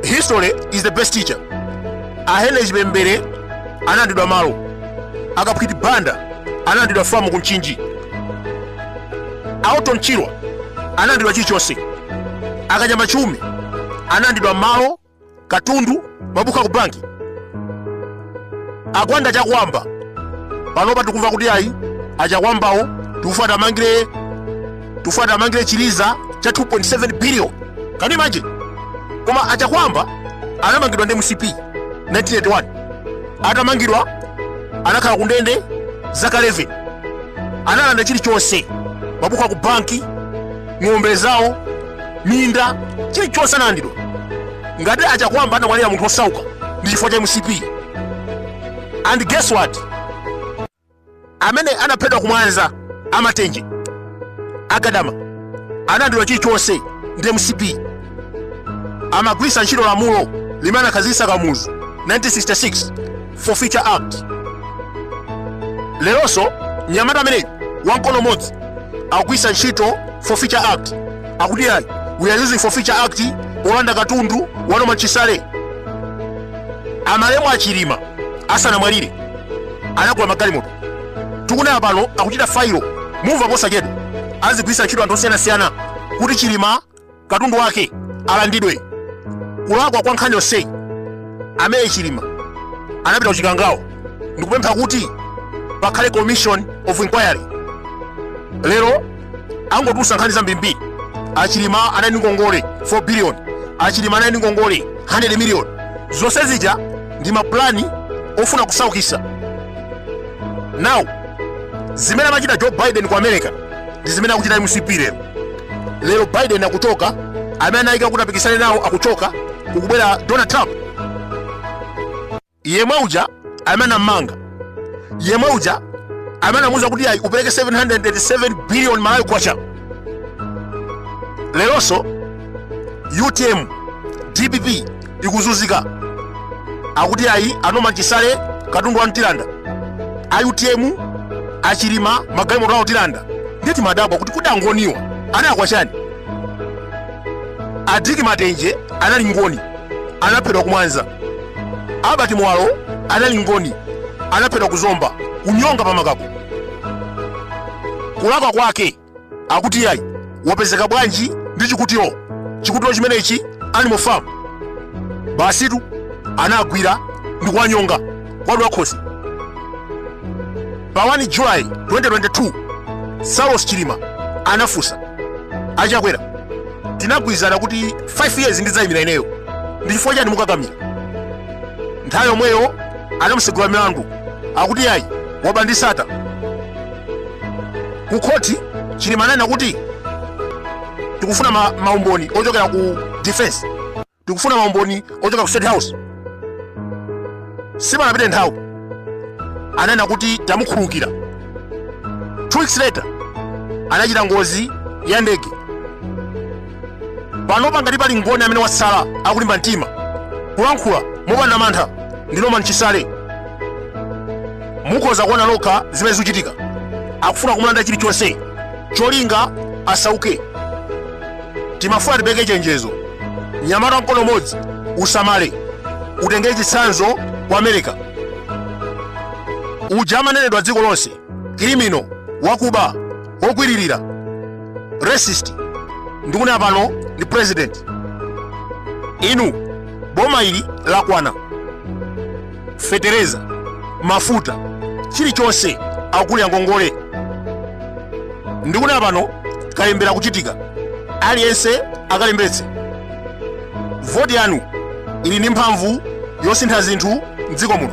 history is the best teacher ahenry chipembere analandidwa malo akaphwiti banda analandidwa famu ku mchinji aorton chirwa analandidwa chilichonse akanyama chiume analandidwa malo katundu mabuku ku banki agwanda chakwamba panopa tikumva kuti ayi achakwambawo tikufuna tiwamangire tufuna tiwamangire chiliza cha 2.7 billion can you imagine koma achakwamba anamangidwa ndi mcp 1981 atamangidwa anakhala kundende zaka 11 analanda chilichonse mabuku aku banki ng'ombe zawo minda chilichonse analandidwa ngati achakwamba anamwalira munthu osauka ndi chifukwa cha mcp and guess what amene anaphedwa kumwanza amatenje agadama analandidwa chilichonse ndi mcp amagwiritsa ntchito lamulo limene anakhazikitsa kamuzu 1966 forfeiture act leronso mnyamata ameneyi wamkono modzi akugwiritsa ntchito forfeiture act akuti ayi we are using forfeiture act polanda katundu wa norman chisale amalemu achilima asanamwalire anagula magalimoto tikunena pano akuchita failo mumva posachedwa azigwiritsa ntchito anthu osiyanasiyana kuti chilima katundu wake alandidwe kulakwa kwa nkhani yonseyi amene chilima anapita kuchikangawo ndikupempha kuti pakhale commission of inquiry lero angotulutsa nkhani zambirimbiri achilima anali ndi ngongole 4 billion achilima anali ndi ngongole 100 million zonse zija ndi mapulani ofuna kusaukisa now zimene amachita joe biden ku america ndi zimene akuchita mcp lero lero biden akuchoka amene anayika kuti apikisane nawo akuchoka kukubwera donald trump yemwe uja amene anammanga yemwe uja amene anamuuza kuti ayi upereke 787 billion malawi kwacha leronso utm dpp ikuzunzika akuti ayi anorman chisale katundu wawo tilanda a utm achilima magalimoto awo tilanda ndiye timadabwa kuti kodi angoniwa analakwa chani adick matenje anali ngoni anaphedwa kumwanza albert muwalo anali ngoni anaphedwa kuzomba kunyonga pamakako kulakwa kwake akuti yayi wapezeka bwanji ndi chikutiro chikutiro chimenechi animal farm basitu anagwira ndi kuwanyonga kwa wamakhosi pa 1 julayi 2022 saulos chilima anafunsa achakwera tinagwirizana kuti 5 years ndidzayimira ineyo ndi chifukwa chani mukakamira nthawi yomweyo anamusegula milandu akuti iyayi waba ndi sata ku khoti chilima ananena kuti tikufuna ma- maumboni ochokera ku defense Tikufuna maumboni ochoka ku State House. Sipanapite nthawi ananena kuti tamukhulukira. Two weeks later anachita ngozi ya ndege. Pano pangati pali mboni amene wasala akulimba mtima kulankhula mopanda mantha ndi Norman Chisale. Mukhoza kuona lokha zimene zikuchitika. Akufuna kumulanda chilichonse cholinga asauke. timafuna tipeke chenjezo mnyamata wa mkono modzi usamale utenge chitsanzo kwa america uja amanenedwa dziko lonse kirimino wakuba wogwiririra rapist ndikunena pano ndi president inu boma ili lakwana fetereza mafuta chilichonse akuli angongole ndikunena pano kalembera akuchitika aliyense akalembetse voti yanu ili ndi mphamvu yosintha zinthu mdziko muno